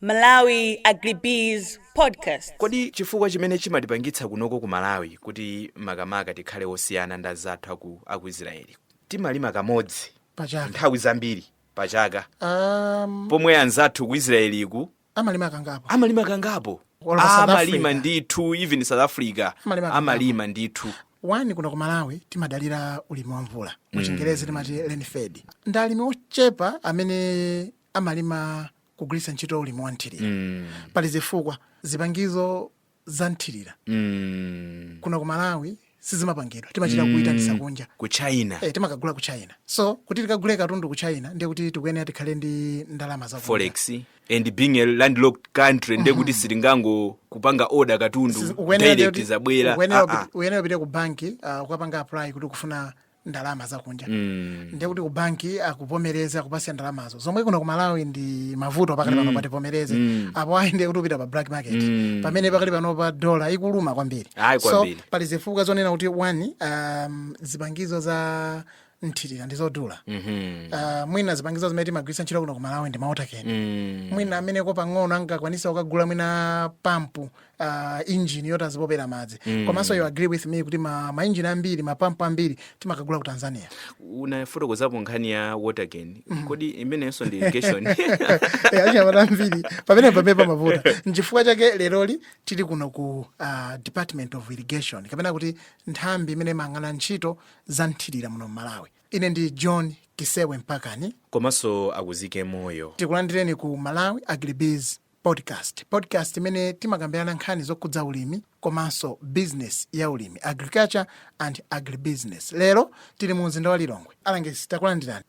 Malawi Agribiz Podcast. Kodi chifukwa chimene chimatipangitsa kunoko ku Malawi kuti makamaka tikhale osiyana ndi anzathu aku, aku Israeliku timalima kamodzi pachaka nthawi zambiri pachaka um, pomwe anzathu ku Israeliku amalima kangapo amalima kangapo Or pa South amalima Africa. ndithu even South Africa Amalima kangapo. amalima ndithu one kuno ku malawi timadalira ulimi wa mvula muchingerezi timati rain fed ndi alimi ochepa amene amalima kugwiritsa ntchito ulimi wa nthirira mm. pali zifukwa zipangizo za nthirira mm. kuno ku malawi sizimapangidwa timachita mm. kuitanisa kunja ku china e, timakagula ku china so kuti tikagule katundu ku china ndiye kuti tikuyenera tikhale ndi ndalama ya forex and being a landlocked country ndiye kuti mm-hmm. sitingangopanga order katundu direct zabwera ah, ah. uyenera upite ku banki uh, ukapanga apply kuti ukufuna ndalama zakunja mm. ndiye kuti kubanki akuvomereze akupatse ndalamazo zomwe kuno ku malawi ndi mavuto pakati pano mm. pativomereze mm. apo ayi ndiye kuti upita pa black market mm. pamene pakati pano pa dola ikuluma kwambiri so pali zifukwa zonena kuti one um, zipangizo za nthirira ndi zodula mm -hmm. uh, ah, mwina zipangizo zimene timagwiritsa ntchito kuno ku malawi ndi ma water can mm. mwina amenewo pang'ono angakwanitse kukagula mwina pampu uh, engine yoti azipopera madzi mm. komanso you agree with me kuti ma, ma engine ambiri mapampu ambiri timakagula ku tanzania unafotokozapo nkhani ya water can mm. kodi imenenso ndi irrigation eh, achinyamata ambiri pamene pamene pamavuta nchifukwa chake leroli tili kuno ku uh, department of irrigation kapena kuti nthambi imene imayang'ana ntchito za nthirira muno mmalawi ine ndi john kisewe mpakani komanso akuzike moyo tikulandireni ku malawi agribiz Podcast, podcast imene timakambirana nkhani zokhudza ulimi komanso business ya ulimi, agriculture and agribusiness. Lero tili mu mzinda wa Lilongwe. Alangizi takulandirani.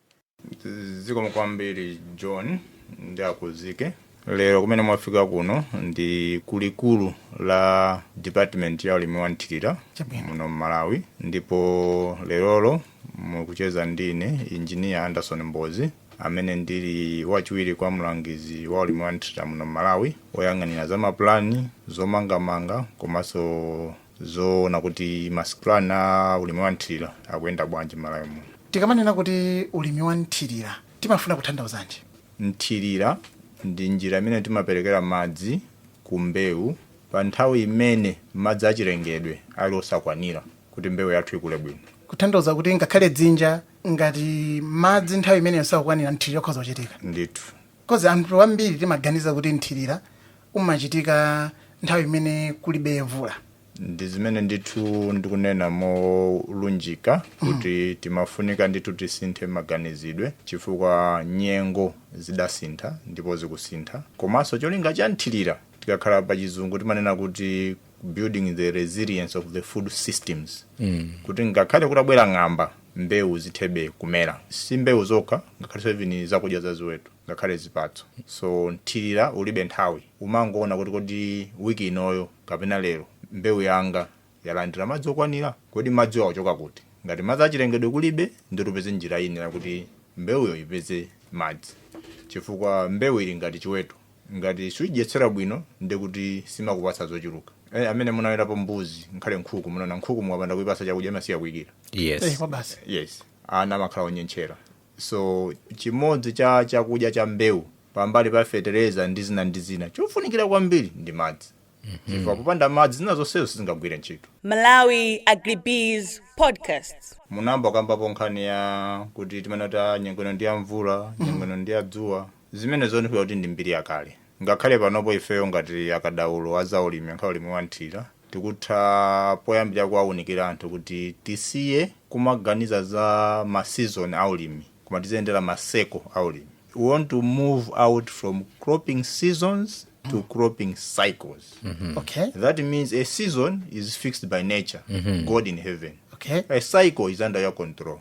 zikomo kwambiri john ndi akuzike lero kumene mwafika kuno ndi kulikulu la department ya ulimi wa nthirira Chabwino. muno mmalawi ndipo leroli mukucheza ndi ine injiniya anderson mbozi amene ndili wachiwiri kwa mlangizi wa ulimi wa nthirira muno m'malawi oyang'anira za mapulani zomangamanga komanso zoona kuti master plan a ulimi wa nthirira akuyenda bwanji m'malawi muno tikamanena kuti ulimi wa nthirira timafuna kutanthauzanji nthirira ndi njira imene timaperekera madzi ku mbewu pa nthawi imene madzi achilengedwe ali osakwanira kuti mbewu yathu ikule bwino kutanthauza kuti ngakhale dzinja ngati madzi nthawi imeneyo sakukwanira mthirira ukhoza kuchitika ndithu coz anthu ambiri timaganiza kuti mthirira umachitika nthawi imene kulibe mvula ndi zimene ndithu ndikunena molunjika kuti timafunika ndithu tisinthe maganizidwe chifukwa nyengo zidasintha ndipo zikusintha komanso cholinga cha mthirira tikakhala pa chizungu timanena kuti building the resilience of the food systems mm. kuti ngakhale kutabwera ng'amba mbewu zithe kumera si mbewu zokha ngakhale nsomba ndi zakudya za ziweto ngakhale zipatso so mthirira ulibe nthawi umangoona kuti kodi wiki inoyo kapena lero mbewu yanga yalandira madzi okwanira kodi madziwo akuchoka kuti ngati madzi achilengedwe kulibe ndithu tipeze njira ina kuti mbewuyo ipeze madzi chifukwa mbewu ili ngati chiweto ngati sukuidyetsera bwino nde kuti simakupatsa zochuluka eh, amene munawetapo mbuzi ngakhale nkhuku munaona nkhuku mukapanda kuipatsa chakudya imasiya kuikira Eh, yes kwa basi yes ana amakhala onyentchera so chimodzi cha chakudya cha mbewu pambali pa fetereza ndi zina ndi zina chofunikira kwambiri ndi madzi chifukwa popanda madzi zina zonsezo sizingagwire ntchito Malawi Agribiz Podcast. munayamba kukambapo nkhani ya kuti timanena nyengo ino ndi ya mvula nyengo ino ndi ya dzuwa Zimenezo ndikuona kuti ndi mbiri yakale. Ngakhale panopo ifeyo ngati akatswiri a zaulimi, makamaka ulimi wa mthirira, tikutha poyambirira kuwaunikira anthu kuti tisiye kumaganiza za ma season a ulimi koma tiziyendera ma cycle a ulimi. We want to move out from cropping seasons to cropping cycles. Okay. That means a season is fixed by nature, God in heaven. Okay. A cycle is under your control.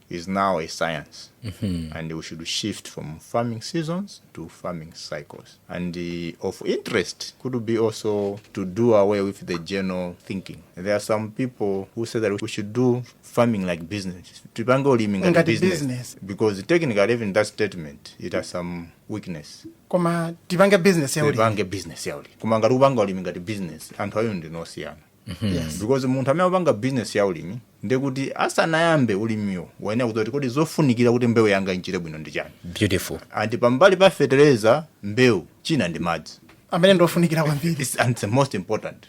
is now a science and we should shift from farming seasons to farming cycles and uh, of interest could be also to do away with the general thinking there are some people who say that we should do farming like business tipange ulimi ngati Ngati business. business. because technically even that statement it has some weakness koma tipange business ya ulimi tipange business yauli koma ngati upanga ulimi ngati business anthu ayo ndinosiyana yes. because munthu amene akupanga business ya ulimi ndekuti asanayambe ulimiwo wayenera kudziwa kuti kodi zofunikira kuti mbewu yanga ichite bwino ndi chani beautiful and pambali pa fertilizer mbewu china ndi madzi amene ndiofunikira kwambiri It's, and it's the most important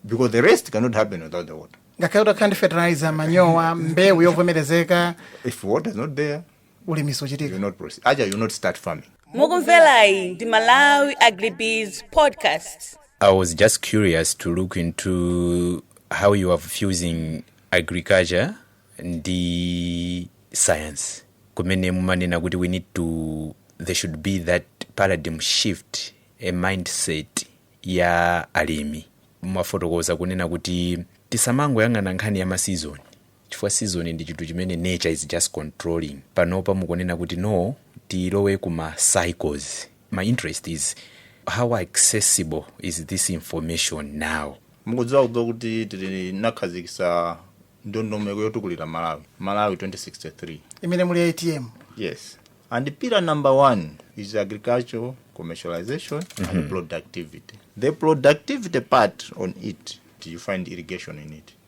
because the rest cannot happen without the water ngakhale utakhala ndi fertilizer manyowa mbewu yovomerezeka if water is not there ulimi siuchitika not proceed aja you not start farming mukumverayi ndi malawi agribiz podcast I was just curious to look into how you are fusing agriculture ndi science. Kumene mumanena kuti we need to there should be that paradigm shift ya mindset ya alimi. Mwafotokoza kunena kuti tisamangoyang'ana nkhani ya ma season chifukwa season ndi chinthu chimene nature is just controlling panopa mukunena kuti no tilowe kuma cycles my interest is how accessible is this information now mukudziwa kudziwa kuti tili nakhazikisa ndondomeko yotukulira malawi malawi 2063 imene muli ati yes and pillar number one is agricultural commercialization and productivity the productivity part of it you find irrigation in it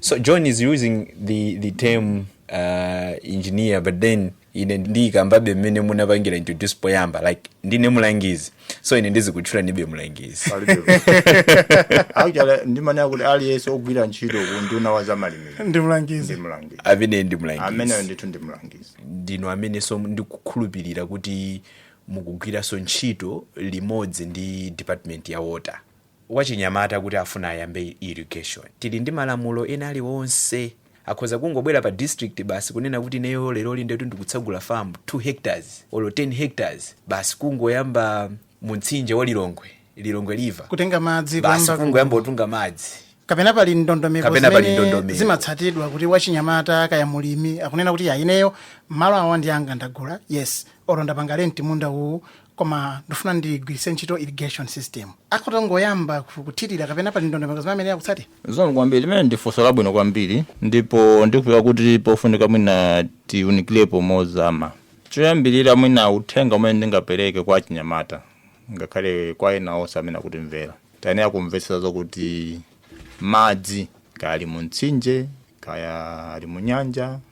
So John is using the, the term uh, engineer but then ine ndiyikambabe mmene munapangira introduce poyamba like ndine mulangizi so ine ndizikutchulanibe mulangizi actually ndimanena kuti aliyense ogwira ntchito ku unduna wa zamalimidwe ndi ndi mlangizi mlangizi amene ndi ameneyo mulangizi ndithu ndi mlangizi ndinu amenenso ndikukhulupirira kuti mukugwiranso ntchito limodzi ndi department ya water wachinyamata kuti afuna ayambe irrigation. Tili ndi malamulo ena aliwonse? Akhoza kungobwera pa district basi kunena kuti ineyo leroli ndithu ndikutsegula farm 2 hectares olo 10 hectares basi kungoyamba mu mtsinje wa Lilongwe, Lilongwe river kutenga madzi basi kuyamba ku- kungoyamba kutunga madzi. kapena pali ndondomeko zimene zimatsatidwa kuti wachinyamata kaya mulimi akunena kuti ya ineyo malo awa ndi anga ndagula yes olo ndapanga lenti munda uwu koma ndifuna ndigwiritse ntchito irrigation system akhoza kungoyamba ku- kuthirira kapena pali ndondomeko zimene amayenera kutsata zikomo kwambiri limenelo ndi funso labwino kwambiri ndipo ndikufika kuti pofunika mwina tiunikirepo mozama choyambirira mwina uthenga umene ndingapereke kwa achinyamata ngakhale kwa ena onse amene akutimvera tayenera kumvetsetsa zokuti madzi kaya ali mu mtsinje kaya ali mu nyanja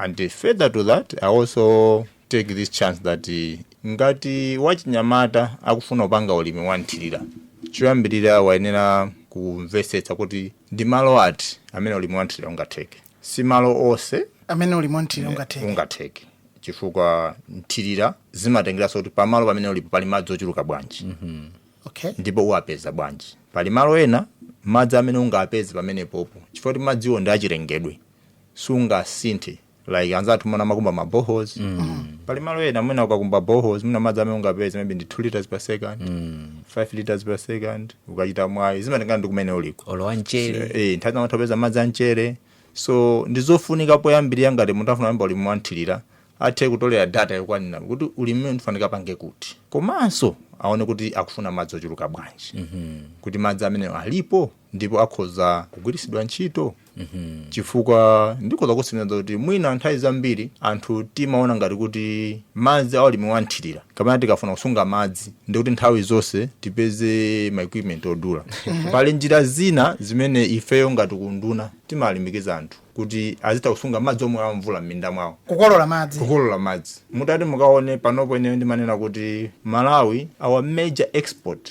And further to that, I also take this chance that eh, ngati wachinyamata akufuna kupanga ulimi wa nthirira choyambirira wayenera kumvetsetsa kuti ndi malo ati amene ulimi wa nthirira ungatheke si malo onse amene ulimi wa nthirira ungatheke chifukwa nthirira zimatengeranso kuti pamalo pamene ulipo pali madzi ochuluka bwanji okay ndipo uwapeza bwanji pali malo ena madzi amene ungapeze pamenepopo chifukwa kuti madziwo ndi achilengedwe sungasinthe like anzathu mumaona amakumba ma boreholes pali malo ena mwina ukakumba boreholes mwina madzi amene ungapeze maybe ndi 2 liters per second 5 liters per second ukachita mwayi zimatengana ndi kumene uliko olowa mchere eh nthawi zina utapeza madzi amchere so ndi zofunika poyambirira ngati munthu afuna kuyamba ulimi wanthirira athe kutolera data yokwanira kuti ulimi umene ndifunika ndipange kuti komanso aone kuti akufuna madzi ochuluka bwanji kuti madzi amene alipo ndipo akhoza kugwiritsidwa ntchito chifukwa ndikhoza kutsimikiza kuti mwina nthawi zambiri anthu timaona ngati kuti madzi aulimi wanthirira kapena tikafuna kusunga madzi ndikuti nthawi zonse tipeze ma equipment odula pali njira zina zimene ifeyo ngati kunduna timalimbikiza anthu kuti azitha kusunga madzi omwe amvula m'minda mwawo kukolola madzi kukolola madzi mutati muone panopo ine ndimanena kuti malawi our major export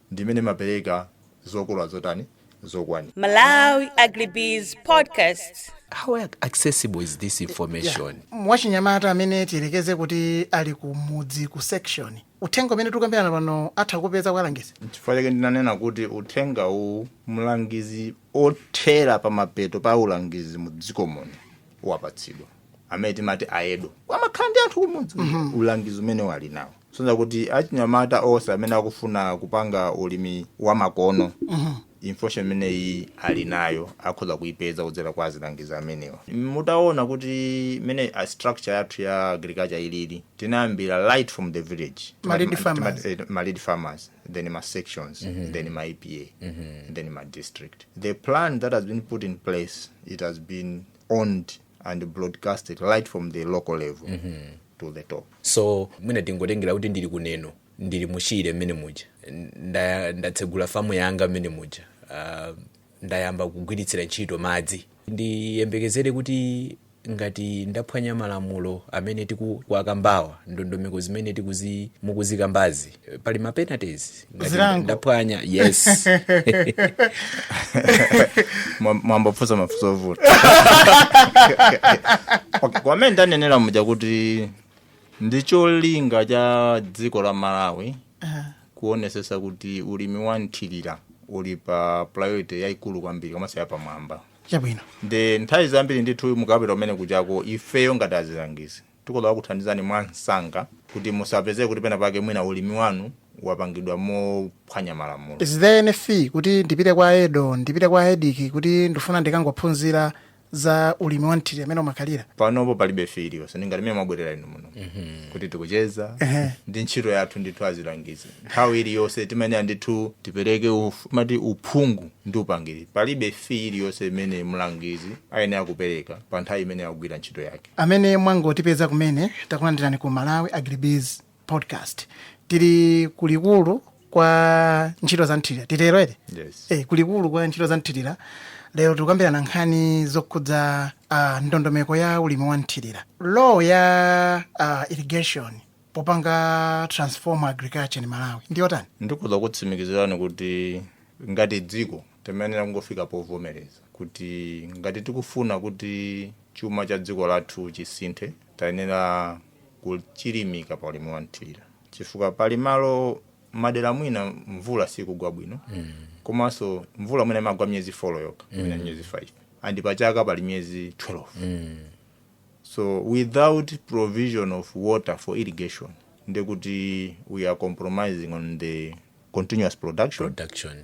ndi mmene imaperekera zokolora zotani zokwanira. Malawi Agribiz Podcast. how ac- accessible is this information kwa wachinyamata amene tiyerekeze kuti ali ku mudzi ku section uthenga umene tikukambirana pano atha kupeza kwa alangizi chifukwa chake ndinanena kuti uthenga uwu mlangizi othera pa mapeto pa ulangizi mu dziko muno wapatsidwa amene timati aedo amakhala ndi anthu kumudzi ulangizi umenewo ali nawo zosonyeza kuti achinyamata onse amene akufuna kupanga ulimi wa makono information imeneyi ali nayo akhoza kuipeza kudzera kwa azilangizi amenewa mutaona kuti mene structure yathu ya agriculture ilili tinayambira right from the village Ma lead Tima- farmers. tima- eh, ma lead farmers then ma sections then ma epa then ma district the plan that has been put in place it has been owned and broadcast it right from the local level mm -hmm. to the top so mwina tingotengera kuti ndili ku Neno ndili muchire mmene muja Nda- ndatsegula famu yanga mmene muja uh, ndayamba kugwiritsira ntchito madzi ndiyembekezere kuti ngati ndaphwanya malamulo amene tikuwakambawa ndondomeko zimene tikuzi mukuzikambazi pali ma penalties ngati Zilango. ndaphwanya yes Mwa- mwafunsa mafunso ovuta Okay, monga mmene ndanenera muja kuti ndi cholinga cha dziko la malawi kuonesesa kuti ulimi wa nthirira uli pa priority yayikulu kwambiri komanso yapamwamba chabwino nde nthawi zambiri ndithu mukapita kumene kujako ifeyo ngati azilangizi Tikhoza kukuthandizani mwansanga kuti musapezeke kuti pena pake mwina ulimi wanu wapangidwa mophwanya malamulo. Is there any fee kuti ndipite kwa AEDO, ndipite kwa AEDC kuti ndufuna ndikangophunzira za ulimi wa mthirira mene umakhalira? Panopo palibe fee iliyonse, ndi ngati mene mwabwerera inu muno kuti tikucheza, Ehe. ndi ntchito yathu ndithu azilangizi. Nthawi iliyonse timayenera ndithu tipereke uf- mati uphungu ndi upangiri. Palibe fee iliyonse imene mlangizi ayenera kupereka pa nthawi imene akugwira ntchito yake. Amene mwangotipeza kumene, takulandirani ku Malawi Agribiz Podcast. Tili kulikulu kwa ntchito za mthirira, titero ere? Yes. Eh, kulikulu kwa ntchito za mthirira. Lero tikukambirana nkhani zokhudza ah, ndondomeko ya ulimi wa mthirira. Role ya ah, irrigation popanga transform agriculture in Malawi ndi yotani? ndikhoza kutsimikizirani kuti ngati dziko Timayenera kungofika povomereza kuti ngati tikufuna kuti chuma cha dziko lathu chisinthe, tayenera kuchilimika pa ulimi wa mthirira chifukwa pali malo madera mwina mvula sikugwa bwino komanso mvula mwina imagwa miyezi 4 yokha mwina miyezi 5 and pa chaka pali miyezi 12 so without provision of water for irrigation ndiye kuti we are compromising on the continuous production production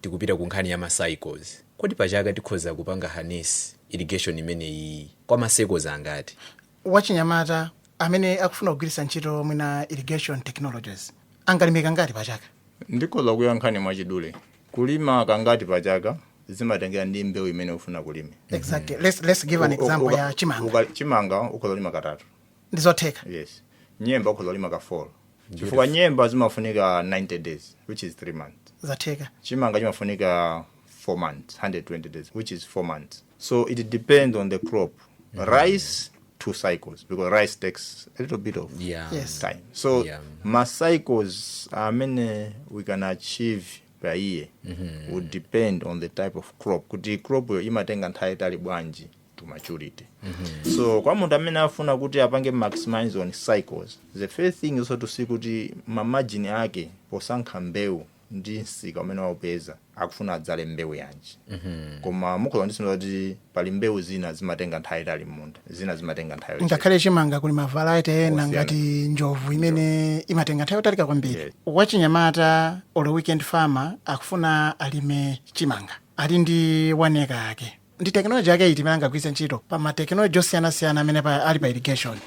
tikupita ku nkhani ya ma cycles kodi pa chaka tikhoza kupanga harness irrigation imeneyi kwa ma cycles angati wachinyamata amene akufuna kugwiritsa ntchito mwina irrigation technologies angalime kangati pa chaka ndikhoza kuyankhani mwachidule kulima kangati pa chaka zimatengera ndi mbewu imene ufuna kulima exactly let's, let's give an Uka- example uka- ya chimanga uka- chimanga ukhoza kulima katatu ndi zotheka yes nyemba ukhoza kulima ka four chifukwa nyemba zimafunika 90 days which is 3 months zatheka chimanga chimafunika 4 months 120 days which is 4 months so it depends on the crop rice two cycles because rice takes a little bit of Yeah. Yes. time so Yeah. ma cycles amene we can achieve per year would depend on the type of crop kuti crop yo imatenga nthawi yaitali bwanji to maturity mm -hmm. so kwa munthu amene afuna kuti apange maximize on cycles the first thing is to see kuti mamajini ake posankha mbewu ndi msika umene waupeza akufuna adzale mbewu yanji mm -hmm. koma mukhoza kundivomereza kuti pali mbewu zina zimatenga nthawi yaitali m'munda zina zimatenga nthawi ngakhale chimanga kuli ma variety ena ngati njovu imene imatenga nthawi yotalika kwambiri yes. wachinyamata olo weekend farmer akufuna alime chimanga ali ndi one acre yake ndi tekinoloji yake iti imene angagwiritse ntchito pa matekinoloji osiyanasiyana amene pa- ali pa irrigation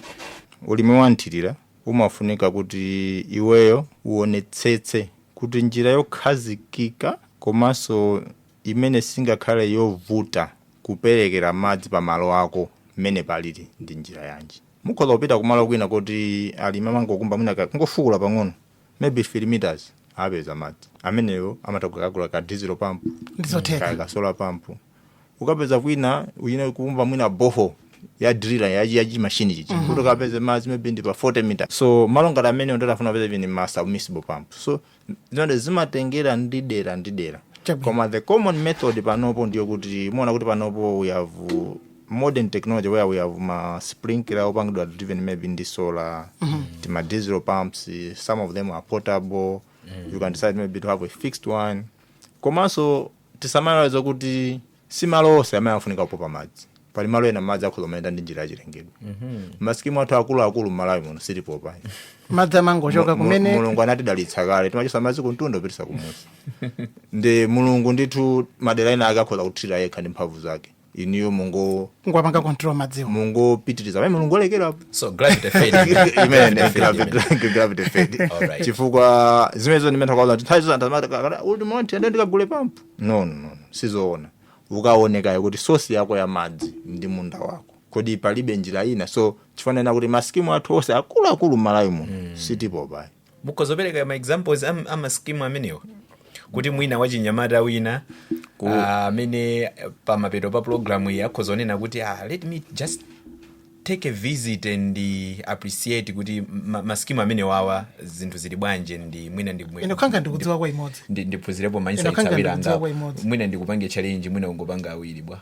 ulimi wa mthirira umafunika kuti iweyo uonetsetse kuti njira yokhazikika komanso imene singakhale yovuta kuperekera madzi pa malo ako mmene palili ndi njira yanji mukhoza kupita kumalo kwina koti alimi amangokumba mwina ka- kungofukula pang'ono maybe 3 meters apeza madzi ameneyo amatha kukagula ka diesel pump Ndizotheka. ka- ka solar pump ukapeza kwina uyenera kukumba mwina borehole ya driller ya ya chimashini chichi kuti ukapeze madzi maybe ndi pa 40 meter so malo ngati amenewo ndiye afuna kupeza even ma submersible pump so zonse zimatengera ndi dera ndi dera Chabwino. koma the common method panopo ndiyo kuti muona kuti panopo we have modern technology where we have ma sprinkler opangidwa driven maybe ndi solar tima diesel pumps eh, some of them are portable you can decide maybe to have a fixed one komanso tisamaiwale kuti si malo onse amene afunika kupopa madzi pali malo ena madzi akhoza kumayenda ndi njira yachilengedwe masikimu athu akuluakulu mmalawi muno sitipopa madzi amangochoka Mu- mu- kumene mulungu anatidalitsa kale timachosa madzi kumtunda kupititsa kumusi ndi mulungu ndithu madera ena ake akhoza kuthirira yekha ndi mphamvu zake inuyo mungopanga control madziwo mungopitiriza pamene mulungu walekera so gravity feeding imene Gravity feeding. gravity- gravity fed Alright. chifukwa zimenezo ndimentha kwaza nthawi zozantamatakakata uti monti ende ndikagule pampu no no no sizoona ukaone kaye kuti sosi yako ya madzi ndi munda wako kodi palibe njira ina so chifukwa chake kuti masikimu athu onse akuluakulu m'malawi muno sitipopa ayi mukhoza kupereka ma examples am- a ma scheme amenewa kuti mwina wachinyamata wina ah, amene pamapeto pa programu iyi akhoza kunena kuti ah, let me just take a visit and uh, appreciate kuti ma- ma scheme amenewawa zinthu zili bwanje ndi mwina ndi mwe- ine Nkhanga ndikudziwako imodzi ndi- ndiphunzirepo Ine Nkhanga ma insights awiri ndikudziwako angapo imodzi. mwina ndikupange challenge mwina ungopanga awiri bwa-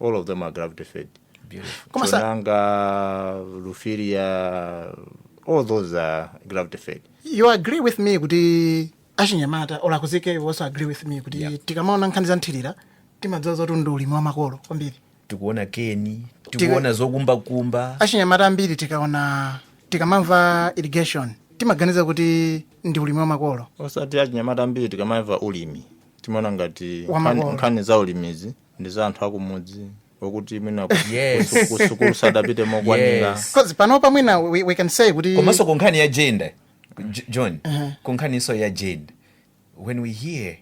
all of them are gravity fed Beautiful. Koma sa- Chonanga Lufilya all those are gravity fed you agree with me kuti achinyamata okay you also agree with me kuti tikamaona nkhani za mthirira timadziwa zoti ndi ulimi wa makolo kwambiri tikuona keni tikuona zokumbakumba achinyamata ambiri tikaona tikamamva irrigation timaganiza kuti ndi ulimi wa makolo osati achinyamata ambiri tikamamva ulimi timaona ngati Wa nkhani- makolo. nkhani za ulimizi ndi za anthu akumudzi okuti mwina ku- Yes. kusu- kusukulu sadapite mokwanira Yes. Because panopa mwina we, we can say kuti komanso ku nkhani ya gender J- john ku nkhaniso ya gender when we hear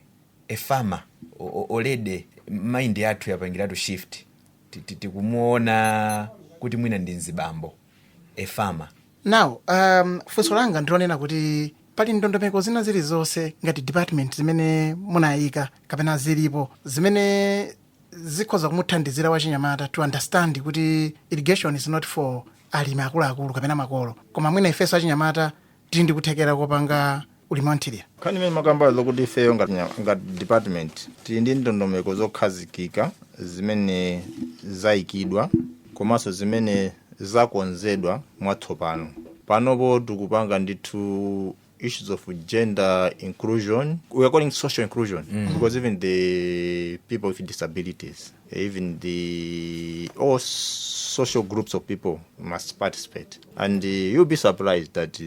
a farmer o- o- already mind yathu yapangiratu shift Ti- ti- tikumuona kuti mwina ndi mzibambo a farmer Now, um, funso langa ndilonena kuti pali ndondomeko zina zilizonse ngati department zimene munayika kapena zilipo zimene zikhoza kumuthandizira wachinyamata to understand kuti irrigation is not for alimi akuluakulu kapena makolo koma mwina ifenso achinyamata tili ndi kuthekera kopanga ulimi wa mthirira nkhani imene mwakamba zokuti ifeyo ngati nya- ngati department tili ndi ndondomeko zokhazikika zimene zayikidwa komanso zimene zakonzedwa mwatsopano panopo tikupanga ndithu issues of gender inclusion we are calling social inclusion mm. because even the people with disabilities even the all social groups of people must participate and uh, you'll be surprised that uh,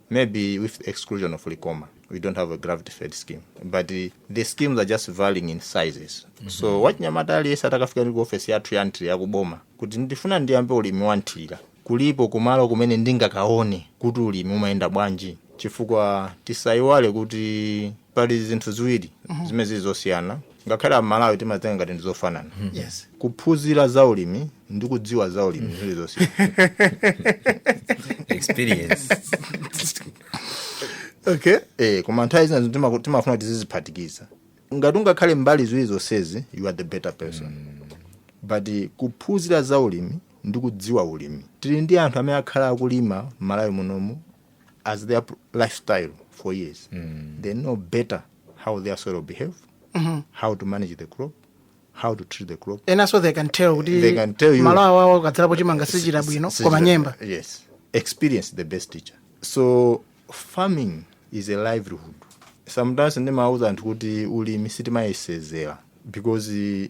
maybe with the exclusion of Likoma, we don't have a gravity fed scheme. But uh, the schemes are just varying in sizes. Mm -hmm. So wachinyamata aliyense atakafika ndi ku ofesi yathu ya nthirira kuboma kuti ndifuna ndiyambe ulimi wa nthirira kulipo kumalo kumene ndingakaone kuti ulimi umayenda bwanji chifukwa tisayiwale kuti pali zinthu ziwiri zimene zili zosiyana ngakhale amalawi timatenga ngati ndi zofanana yes kuphunzira za ulimi ndi kudziwa za ulimi zili zosiyana experience okay eh koma nthawi zina zinthu timaku- timafuna kuti tiziziphatikiza ngati ungakhale mbali ziwiri zonsezi you are the better person but eh, kuphunzira za ulimi ndi kudziwa ulimi tili ndi anthu amene akhala akulima m'malawi munomu as their pr- lifestyle for years they know better how their soil behave how to manage the crop how to treat the crop enanso they can tell kuti They can tell you. malo awawa ukadzalapo chimanga sichira bwino Sichira- koma nyemba yes experience the best teacher so farming is a livelihood sometimes ndimauza anthu kuti ulimi sitimayesezera because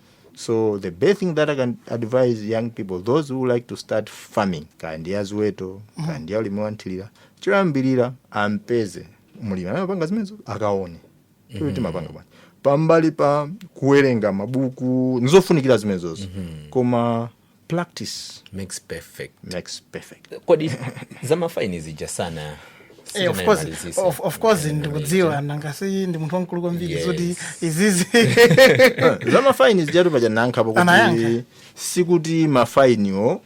so the best thing that i can advise young people those who like to start farming kaya ndi ya ziweto kaya ndi ya ulimi wanthirira choyambirira ampeze mulimi amene amapanga zimenezi akaone kuti amapanga bwanji pambali pa kuwerenga mabuku nizofunikira zimenezozo koma practice makes perfect makes perfect kodi zamafaini zija sana Eh, of course, sitinayimalizise. of, of course ndikudziwa nanga si ndi munthu wamkulu kwambiri Yes. zoti izi za mafaini zijatu paja anayankhapo kuti Anayankha. sikuti mafainiwo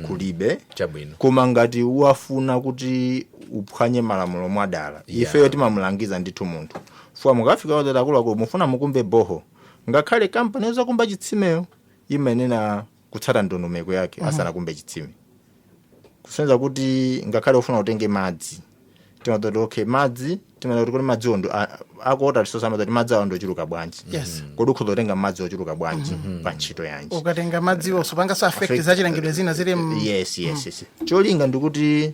kulibe Chabwino. koma ngati ukufuna kuti uphwanye malamulo mwadala Yeah. ifeyo timamulangiza ndithu munthu fuwa mukafika ozati akuluakulu mufuna mukumbe borehole ngakhale kampani yozakumba chitsimeyo imayenera kutsata ndondomeko yake asanakumbe chitsime kusonyeza kuti ngakhale ufuna utenge madzi timadziwa kuti okay madzi timadziwa kuti kodi madziwo ndo a- ako water resource amadziwa kuti madzi awo ndochuluka bwanji Yes. kodi ukhoza kutenga madzi ochuluka bwanji pa ntchito yanji ukatenga madziwo supangaso affect zachilengedwe zina zili m- yes yes yes cholinga ndikuti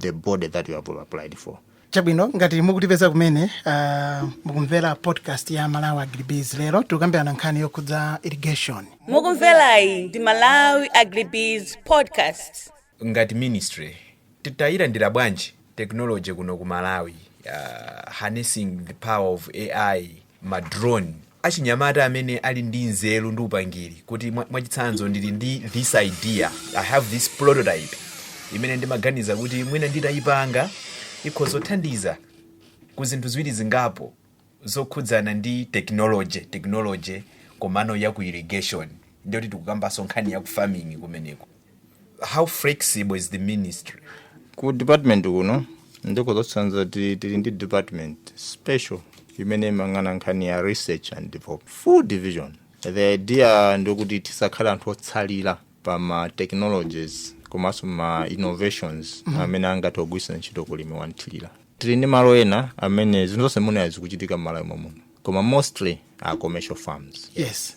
the body that you have applied for. chabwino ngati mukutipeza kumene uh, mukumvera podcast ya malawi agribiz lero tikukambirana nkhani yokhudza irrigation mukumverayi ndi malawi agribiz podcast ngati ministry tikuyilandira bwanji technology kuno ku malawi uh, harnessing the power of ai ma drone, achinyamata amene ali ndi nzeru ndi upangiri kuti mwa- mwachitsanzo ndili ndi this idea i have this prototype imene ndimaganiza kuti mwina nditayipanga ikhoza kuthandiza ku zinthu ziwiri zingapo zokhudzana ndi technology technology komano ya ku irrigation ndikuti tikukambanso nkhani ya ku farming kumeneko how flexible is the ministry ku department kuno ndikhoza kutsindika kuti tili ndi department special imene imayang'ana nkhani ya research and development full division the idea ndikuti tisakhale anthu otsalira pa ma technologies komanso ma innovations Mhm. amene angathe kugwiritsa ntchito kulimi wa nthirira tili ndi malo ena amene zinthu zonse munayi zikuchitika m'malawi momwemuno koma mostly are commercial farms yes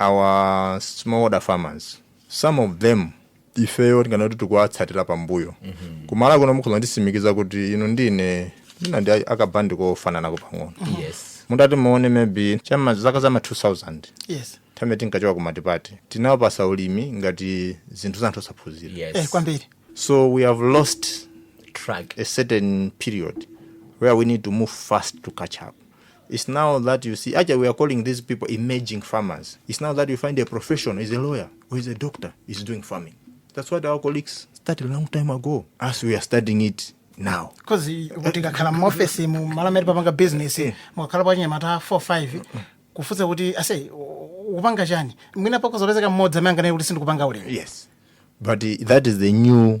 our smallholder farmers some of them ifeyo tinganene kuti tikuwatsatira pambuyo kuMalawi kuno mukhoza nditsimikiza kuti inu ndi ine tina ndi akabandi kofananako pang'ono yes mutati muone maybe chama zaka zama 2000 yes nthawi tinkachoka kumatipati tinkawupatsa ulimi ngati zinthu za anthu osaphunzira eh, yes kwambiri so we have lost track a certain period where we need to move fast to catch up It's now that you see, actually, we are calling these people emerging farmers. It's now that you find a professional, is a lawyer, or is a doctor, is doing farming. That's what our colleagues started a long time ago, as we are studying it now. because kuti kakhala muofesi mu malo amene papanga business Eh. mukakhala pa nyamata 45 kufunsa kuti ase u- ukupanga chani mwina pakozolezeka mmodzi amene anganene kuti sindikupanga ulimi Yes. But uh, that is the new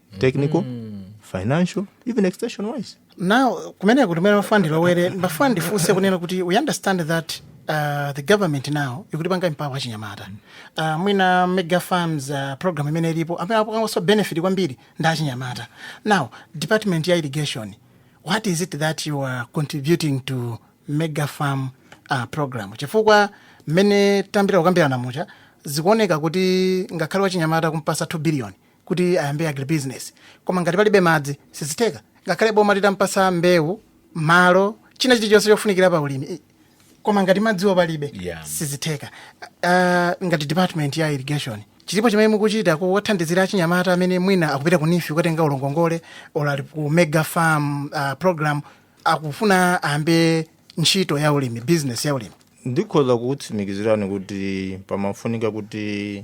technical financial even extension wise now kumene kuti mmene ndimafuna ndilowere ndimafuna ndifunse kunena kuti we understand that uh, the government now ikutipanga empower achinyamata uh, mwina mega farms uh, program imene ilipo amene apangenso benefit kwambiri ndi achinyamata now department ya irrigation what is it that you are contributing to mega farm uh, program chifukwa mmene tayambira kukambirana mucha zikuoneka kuti ngakhale wachinyamata kumpatsa 2 billion kuti ayambe agribusiness koma ngati palibe madzi sizitheka ngakhale boma litampatsa mbewu malo china chilichonse chofunikira pa ulimi i- koma ngati madziwo palibe Yeah. sizitheka uh, ngati department ya irrigation chilipo chimene mukuchita kuwathandizira achinyamata amene mwina akupita ku NEEF kukatenga loan ngongole or ali ku mega farm uh, program akufuna ayambe ntchito ya ulimi business ya ulimi ndikhoza kukutsimikizirani kuti pamafunika kuti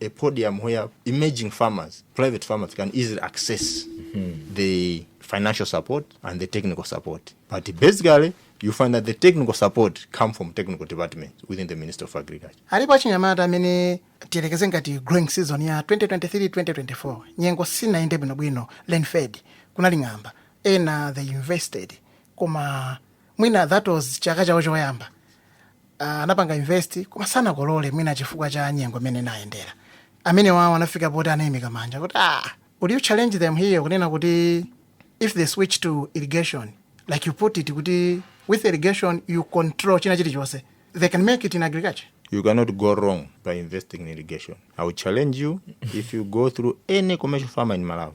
a podium where emerging farmers, private farmers can easily access the financial support and the technical support. But basically, you find that the technical support come from technical departments within the Ministry of Agriculture. alipo achinyamata amene tiyerekeze ngati growing season ya 2023-2024 nyengo sinayende bwinobwino lenfed kunali ng'amba ena they invested koma mwina that was chaka chawo choyamba Ah, anapanga invest koma sanakolole mwina chifukwa cha nyengo imene inayendera amenewowo anafika poti angoimika manja kuti ah, would you challenge them here kunena kuti if they switch to irrigation like you put it kuti with irrigation you control china chilichonse they can make it in agriculture You cannot go wrong by investing in irrigation. I will challenge you if you go through any commercial farmer in Malawi.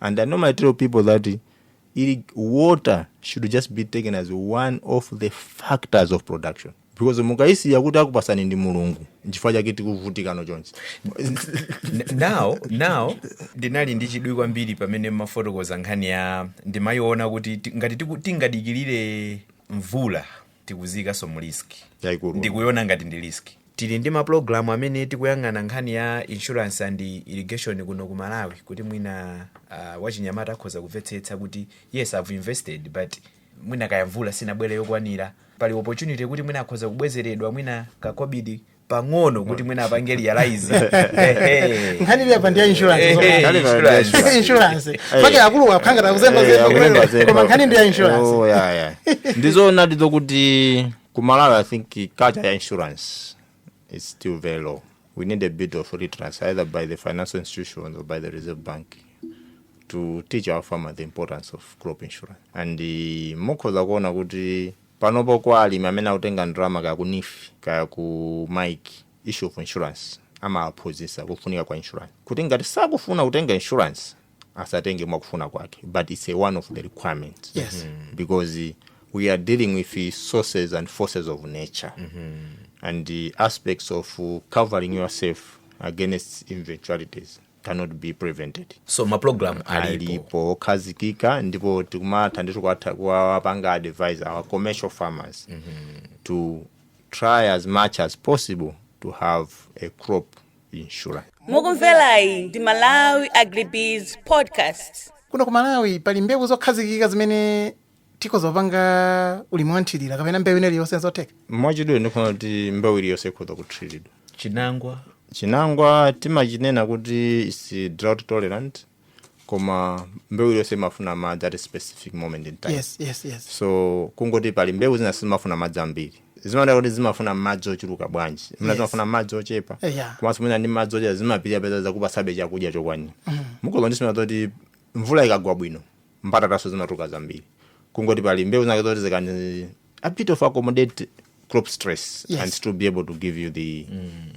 and i normally tell people that eh water should just be taken as one of the factors of production because mukayisiya kuti akupatsani ndi mulungu nchifukwa chake tikuvutikano chonchi N- now now ndinali ndi chidwi kwambiri pamene mmafotokoza nkhani ya ndimayiona kuti ti- ngati tiku- tingadikirire mvula tikuziikanso mu risk Yaikulu. ndikuiona ngati ndi risk tili ndi mapulogalamu amene tikuyang'ana nkhani ya insurance and irrigation kuno ku malawi kuti mwina uh, wachinyamata akhoza kumvetsetsa kuti yes i've invested but mwina kaya mvula sinabwere yokwanira pali opportunity kuti mwina akhoza kubwezeredwa mwina kakobidi pang'ono kuti mwina apange realize Ehe. nkhani ili apa ndi ya insurance Eh, eh, Nkhani pa- insurance. insurance. insurance Eh. paja akuluakulu akanga tikuzemba Eh, zemba akulemba kulero. zemba. koma nkhani ndi ya Oh, insurance yeah, yeah. ndizoonadi izo kuti ku malawi i think culture ya insurance is still very low we need a bit of literacy either by the financial institutions or by the reserve bank to teach our farmer the importance of crop insurance and uh, mukhoza kuona kuti Panopo kwa alimi amene akutenga ndalama kaya ku NEEF kaya ku MAIIC, issue of insurance amawaphunzitsa kufunika kwa insurance kuti ngati sakufuna kutenga insurance asatenge mwakufuna kwake but it's a one of the requirements Yes. because we are dealing with sources and forces of nature and the aspects of covering yourself against eventualities cannot be prevented so mapulogalamu alipo alipo okhazikika ndipo tikumatha ndithu kuwatha- kuwapanga advise our commercial farmers to try as much as possible to have a crop insurance mukumverayi ndi malawi agribiz podcast kuno ku malawi pali mbewu zokhazikika zimene tikhoza kupanga ulimi wanthirira kapena mbewu ina iliyonse zotheka mwachidule ndikunena kuti mbewu iliyonse ikhoza kuthiridwa chinangwa chinangwa timachinena kuti is drought tolerant koma mbewu iliyonse imafuna madzi at a specific moment in time yes yes yes so kungoti pali mbewu zina sizimafuna madzi ambiri zimaoneka kuti zimafuna madzi ochuluka bwanji zina Yes. zimafuna madzi ochepa Eh, yeah. komanso mwina ndi madzi ochepa zimapirira mpeza zakupasabe chakudya chokwanira koma sikuti kuti mvula ikagwa bwino mbatatanso zimatuluka zambiri kungoti pali mbewu zinake zoti zi can a bit of accommodate crop stress Yes. and still be able to give you the,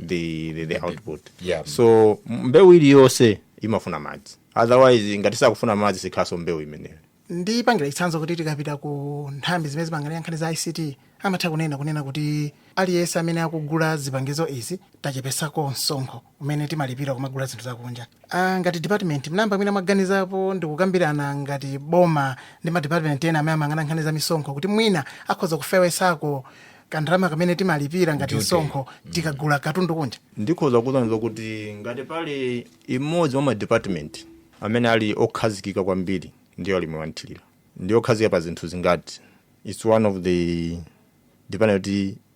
the, the, the output yeah. so m- mbewu iliyonse imafuna madzi otherwise ngati sakufuna madzi sikhalanso mbewu imeneyo ndipangire chitsanzo kuti tikapita ku nthambi zimene zimayang'anira nkhani za ict amatha kunena kunena kuti aliyense amene akugula zipangizo izi tachepesako msonkho umene timalipira pomagula zinthu zakunja ah, ngati department munayamba mwina mwaganizapo ndikukambirana ngati boma ndi madepartment ena amene amayang'ana nkhani za misonkho kuti mwina akhoza kufewesako kandalama kamene timalipira ngati Duty. msonkho tikagula katundu kunja ndikhoza kuyankha kuti ngati pali imodzi mwa madepartment amene ali okhazikika kwambiri ndi ya ulimi wanthirira ndi okhazikika pa zinthu zimenezi its one of the department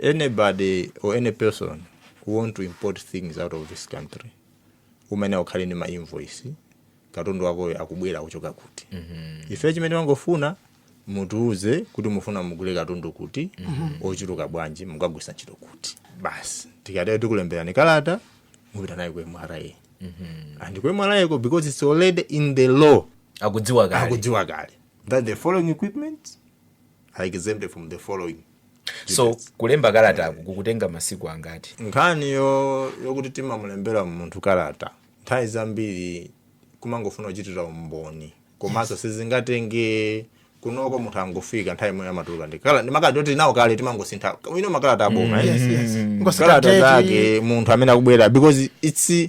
Anybody or any person who want to import things out of this country umayenera ukhale ndi ma invoice katundu wakoyo akubwera kuchoka kuti ife chimene timangofuna mutiuze kuti mufuna mugule katundu kuti ochuluka bwanji mukagwisa ntchito kuti basi tikatero tikulemberani kalata mupita nayo ku mra and ku mra ko because it's already in the law akudziwa kale akudziwa kale that the following equipment are exempted from the following so duties. kulemba kalataku kumatenga masiku angati nkhani yo- yokuti timamulembera munthu kalata nthawi zambiri kumangofuna kuchitira umboni komanso sizingatenge ola loko munthu akangofika nthawi imeneyo amatuluka ndi kala- ndi makalata oti tili nawo kale timangosintha dzina makalata aboma eh? Yes, yes. kungosintha kalata date. zake munthu amene akubwera because it's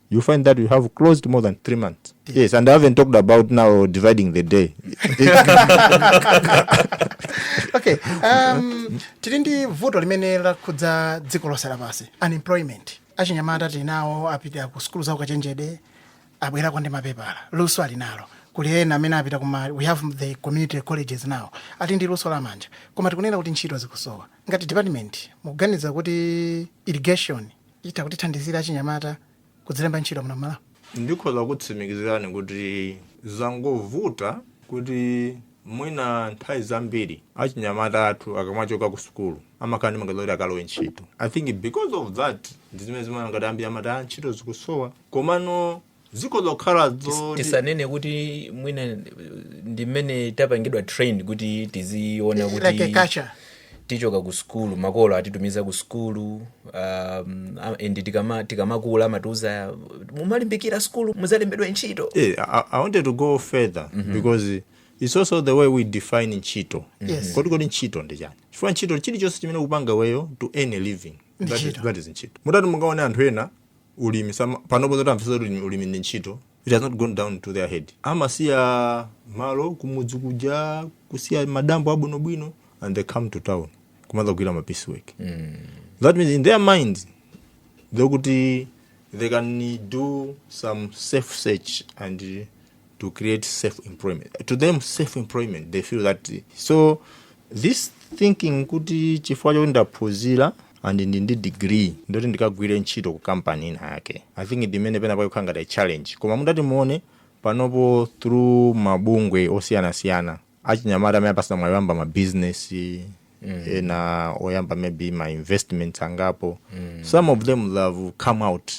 you find that you have closed more than three months. Yes, and I haven't talked about now dividing the day. okay um, tili ndi vuto limene lakhudza dziko lonse lapansi unemployment achinyamata tili nawo apita ku sukulu za ukachenjede abwerako ndi mapepala luso ali nalo kuli ena amene apita kuma we have the community colleges now ali ndi luso la manja koma tikunena kuti ntchito zikusowa ngati department mukuganiza kuti irrigation itha kuthandizira achinyamata kudzilemba ntchito muno m'Malawi? Ndikhoza kukutsimikizirani kuti zangovuta kuti mwina nthawi zambiri achinyamata athu akamachoka ku sukulu amakhala ndi maganizo akuti akalowe ntchito. I think because of that ndi zimene zimaona ngati ambiri amati ah ntchito zikusowa. Komano dziko lokhala Tis- dzoti tisanene kuti mwina eh, ndi mmene tapangidwa trained kuti tiziona like a kuti culture tikachoka ku skulu makolo atitumiza ku skulu um, a- and tikama- tikamakula amatiuza muzalimbikira skulu muzalembedwe ntchito Eh, I, I wanted to go further because it's also the way we define ntchito Yes. kodi kodi ntchito ndi chani chifukwa ntchito chilichonse chimene ukupanga iweyo to earn a living that is, that is ntchito mutati mungaone anthu ena ulimi sama, panopo zoti amvetsa ulimi, ulimi ndi ntchito it has not gone down to their head amasiya malo kumudzi kuja kusiya madambo abwinobwino and they come to town kumadzagwira ma piece work that means in their minds kuti they can do some self search and to create self employment to them self employment they feel that so this thinking kuti chifukwa choti ndaphunzira and ndili ndi degree ndiye kuti ndikagwire ntchito ku kampani ina yake i think ndi imene pena pakukhala ngati a challenge koma mutati muone panopo through mabungwe osiyanasiyana achinyamata amene apatsidwa mwayi woyamba ma business mm. ena oyamba maybe ma investments angapo mm. some of them they have come out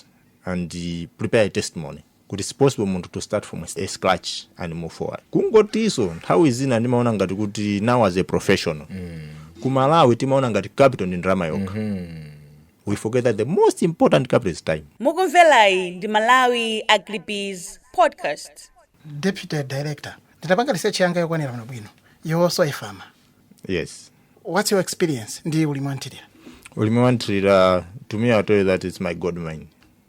and uh, prepare a testimony kuti it's possible munthu to start from a scratch and move forward kungotiso nthawi zina ndimaona ngati kuti now as a professional ku malawi timaona ngati capital ndi ndalama yokha we forget that the most important capital is time mukumverayi ndi malawi agribiz podcast deputy director nditapanga research yanga yokwanira bwino bwino you're also a farmer yes what's your experience ndi ulimi wanthirira ulimi wanthirira to me i tell you that it's my gold mine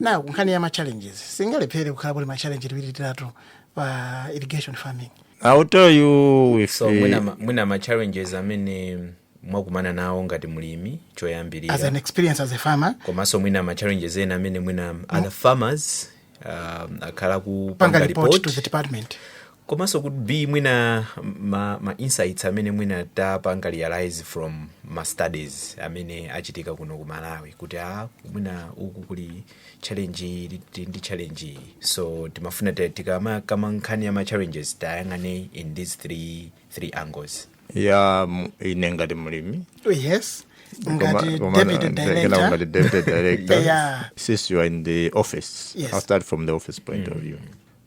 nayo kunkhani ya machallenges singalephere kukhala kuti machallenge tiwiri titatu pa irrigation farming I'll tell you if so mwina, ma- mwina ma challenges amene mwakumana nawo ngati mlimi as an choyambirira experience as a farmer komanso mwina ma challenges ena amene mwina other farmers um, akhala panga kupanga report to report the department komanso could be mwina ma, ma insights amene mwina tapanga realize from ma studies amene achitika kuno ku malawi kuti a mwina uku kuli challenge iyi, ndi- ndi challenge iyi. so timafuna ti- tikamakamba nkhani ya ma challenges tiyang'ane in these three, three angles ya m- ine ngati mlimi yes Koma- ngati koma- deputy kena director ngati deputy director Yeah. since you are in the office Yes. i'll start from the office point of view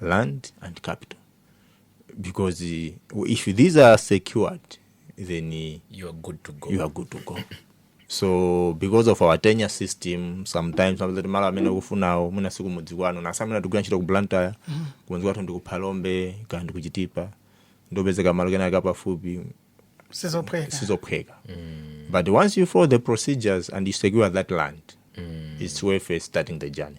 land and capital because uh, if these are secured then uh, you are good to go you are good to go so because of our tenure system sometimes umapeza kuti malo amene ukufunawo mwina siku mudzi kwanu monga ife amene tikugwira ntchito ku blantyre kumudzi kwathu ndi ku phalombe kapena ndi ku chitipa nde kupezeka malo penapake pafupi sizophweka sizophweka but once you follow the procedures and you secure that land it's worth uh, starting the journey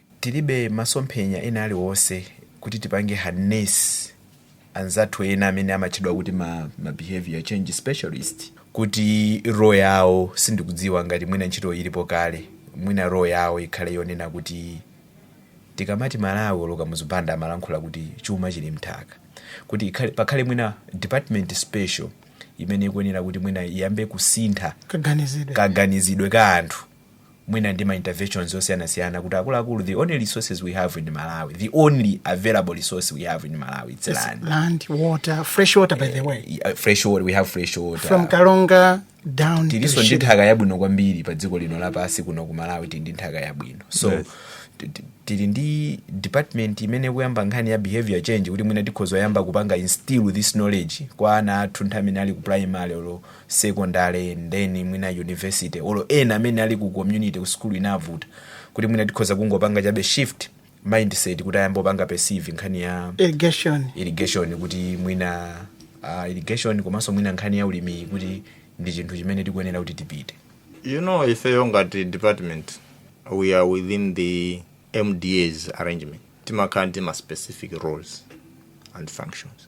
Tilibe masomphenya ena aliwonse kuti tipange harness anzathu ena amene amatchedwa kuti ma, ma behavior change specialist kuti role yawo sindikudziwa ngati mwina ntchito ilipo kale mwina role yawo ikhale yonena kuti tikamati malemu aKamuzu Banda amalankhula kuti chuma chili mnthaka kuti ikhale, pakhale mwina department special imene ikuyenera kuti mwina iyambe kusintha kaganizidwe ka anthu mwina ndi ma interventions osiyanasiyana kuti akuluakulu the only resource we have in malawi the only available resource we have in malawi it's land land water fresh water by the way Uh, fresh water we have fresh water from karonga down to tilinso ndi Shire. nthaka yabwino kwambiri pa dziko lino lapansi kuno ku malawi tili ndi nthaka yabwino so Yes. ti- ti- tili ndi department imene ikuyamba nkhani ya behavior change kuti mwina tikhoza kuyamba kupanga instill this knowledge kwa ana athu nthawi imene ali ku primary olo sekondale ndiye mwina university olo ena amene ali ku community ku sukulu inavuta kuti mwina tikhoza kungopanga chabe shift mindset kuti ayambe kupanga perceive nkhani ya irrigation kuti mwina uh, irrigation komanso mwina nkhani ya ulimiyi kuti ndi chinthu chimene tikuyenera kuti tipite you know ifeyo ngati department we are within the mdas arrangement timakhala ndi ma specific roles and functions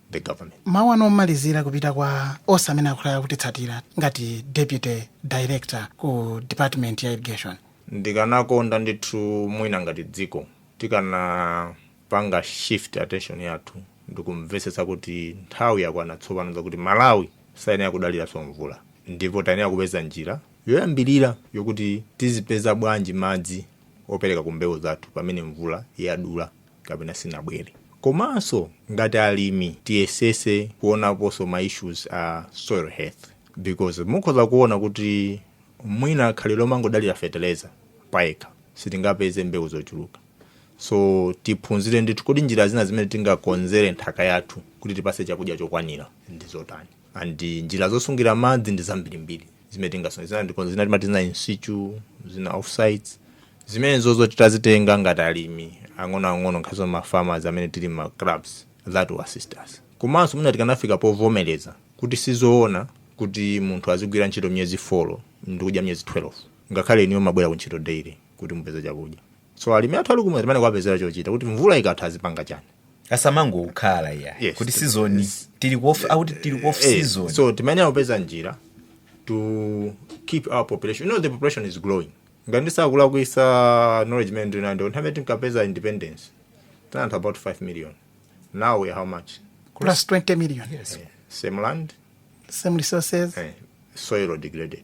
the government. Mawu anu omalizira kupita kwa onse amene akhala akutitsatira ngati deputy director ku department ya irrigation. Ndikanakonda ndithu mwina ngati dziko tikanapanga shift attention yathu ndikumvetsetsa kuti nthawi yakwana tsopano zakuti Malawi sayenera kudaliranso mvula ndipo tayenera kupeza njira yoyambirira yokuti tizipeza bwanji madzi opereka ku mbewu zathu pamene mvula yadula. kapena sinabwere komanso ngati alimi tiyesese kuonaponso ma issues a soil health because mukhoza kuona kuti mwina khalidwe lomangodalira feteleza payekha sitingapeze mbewu zochuluka so tiphunzire ndithu kodi njira zina zimene tingakonzere nthaka yathu kuti itipase chakudya chokwanira ndi zotani and njira zosungira madzi ndi zambirimbiri zimene tingasungire madzi zina timati zina insitu zina offsites zimenezo titazitenga ngati alimi ang'onoang'ono ngakhaleso ma farmers amene tili ma clubs that will assist us komanso mwina tikanafika povomereza kuti sizoona kuti munthu azigwira ntchito miyezi 4 ndikudya miyezi 12 ngakhale inuyo mumabwera ku ntchito daily kuti mupeze chakudya so alimi athu ali kumudzi timayenera kuwapezera chochita kuti mvula ikatha azipanga chani asamangokhala kuti season tili ku off akuti tili ku off season so timayenera kupeza njira to keep our population you know the population is growing ngati ndisakulakwitsa knowledge imene ndinayo ndi nthawi imene tinkapeza independence tinali anthu about 5 million now we are how much plus 20 million same land same resources eh, soil degraded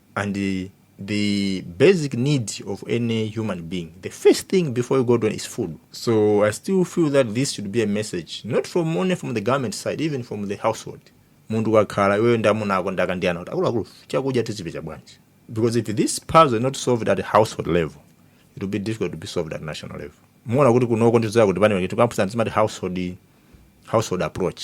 and the basic need of any human being the first thing before you go to is food so i still feel that this should be a message not from only from the government side even from the household munthu wakhala iweyo ndi amuna ako ndi akazi ndi ana kuti akuluakulu chakudya tizichipeza bwanji because if this puzzle is not solved at household level it will be difficult to be solved at national level muona kuti kunoko ndizoti pamene tikuphunzitsana timati household household approach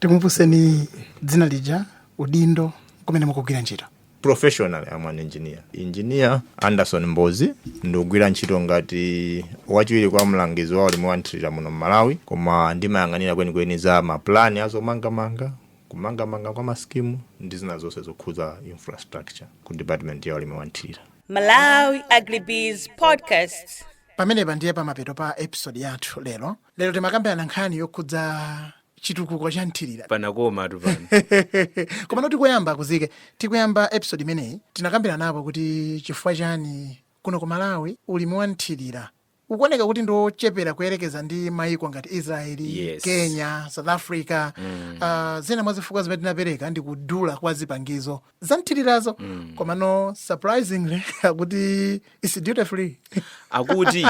tikumbuseni dzina lija udindo kumene mukugwira ntchito professionally am an engineer engineer anderson mbozi ndikugwira ntchito ngati wachiwiri kwa mlangizi wa ulimi wamthirira muno mmalawi koma ndimayang'anira kwenikweni za mapulani azomangamanga kumangamanga kwa masikimu ndi zina zonse zokhudza infrastructure ku department ya ulimi wamthirira pamenepa ndiye pamapeto pa episode yathu lero lero timakambirana nkhani yokhudza chitukuko cha mthirira panakomatu pano komano tikuyamba kuzike tikuyamba episode imeneyi tinakambiranapo kuti chifukwa chani kuno ku malawi ulimi wa mthirira ukuoneka kuti ndi wochepera kuyerekeza ndi maiko ngati israel kenya south africa zina mwa zifukwa zimene tinapereka ndi kudula kwa zipangizo zamthirirazo komano surprisingly akuti is duty free akuti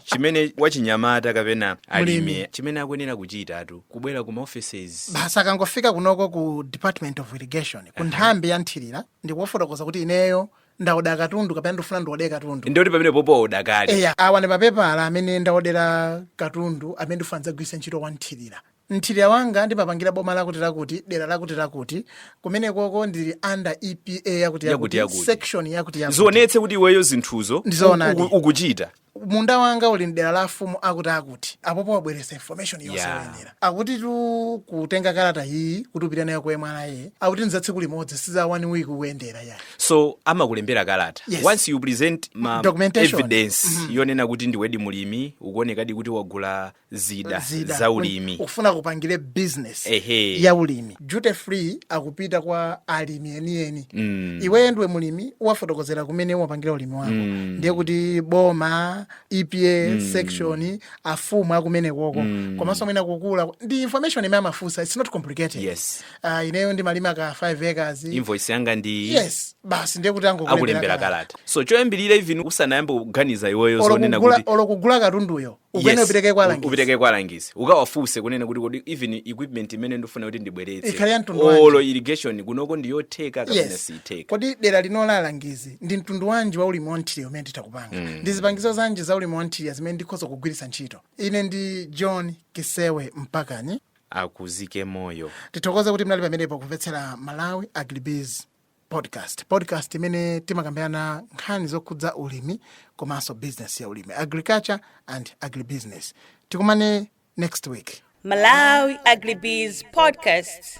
chimene wachinyamata kapena mlimi chimene akuyenera kuchitatu kubwera ku maoffices basi akangofika kunoko ku department of irrigation ku nthambi ya mthirira ndikuwafotokozera kuti ineyo ndaoda katundu kapena ndifuna ndiode katundu ndoti pamene popo waoda kale eya awa ndi mapepala amene ndaodera katundu amene ndifuna ndidzagwiritse ntchito wamthirira Mthirira wanga ndimapangira boma lakutilakuti, dera lakutilakuti, kumenekoko ndili under EPA yakutiyakuti, Yakutiyakuti. section yakutiyakuti. zionetse kuti iweyo zinthuzo Ndi zoonadi. uku- ukuchita munda wanga uli m'dera la afumu akutiakuti apopo wabweretsa information yonse Yeah. yoyenera akutitu kutenga kalata iyi kuti upite nayo kwa MRA akuti ndi za tsiku limodzi si za one week kuyendera ya so amakulembera kalata Yes. once you present ma Documentation. evidence yonena kuti ndiwedi mulimi ukuonekadi kuti wagula zida, zida za ulimi ukufuna kupangira business Ehe. ya ulimi duty free akupita kwa alimi enieni Mm. iweyo ndiwe mulimi uwafotokozera kumene umapangira ulimi wako Mm. ndiye kuti boma epa section afumu akumenekoko komanso mwina kukula ndi information imene amafunsa its not complicated Yes. Ah, ineyo ndimalima ka 5 acres invoice yanga ndi yes basi ndiye kuti angokulembera akulembera kalata. kalata so choyambirira even usanayambe kuganiza iweyo Olo zonena kugula- kuti olo kugula katunduyo Ukuyenera Yes. upereke kwa U- alangizi. upereke kwa alangizi ukawafunse kunena kuti kodi even equipment imene ndifuna kuti ndibweretse Ikhale ya mtundu wanji? olo irrigation kunoko ndiyotheka kapena yes siitheka kodi dera lino alangizi ndi mtundu wanji wa ulimi wamthirira umene nditha kupanga ndi zipangizo zanji za ulimi wamthirira zimene ndikhoza kugwiritsa ntchito ine ndi john kisewe mpakani akuzike moyo tithokoze kuti mnali pamenepo kumvetsera malawi agribiz podcast podcast imene timakambirana nkhani zokhudza ulimi komanso business ya ulimi agriculture and agribusiness tikumane next week Malawi Agribiz Podcast.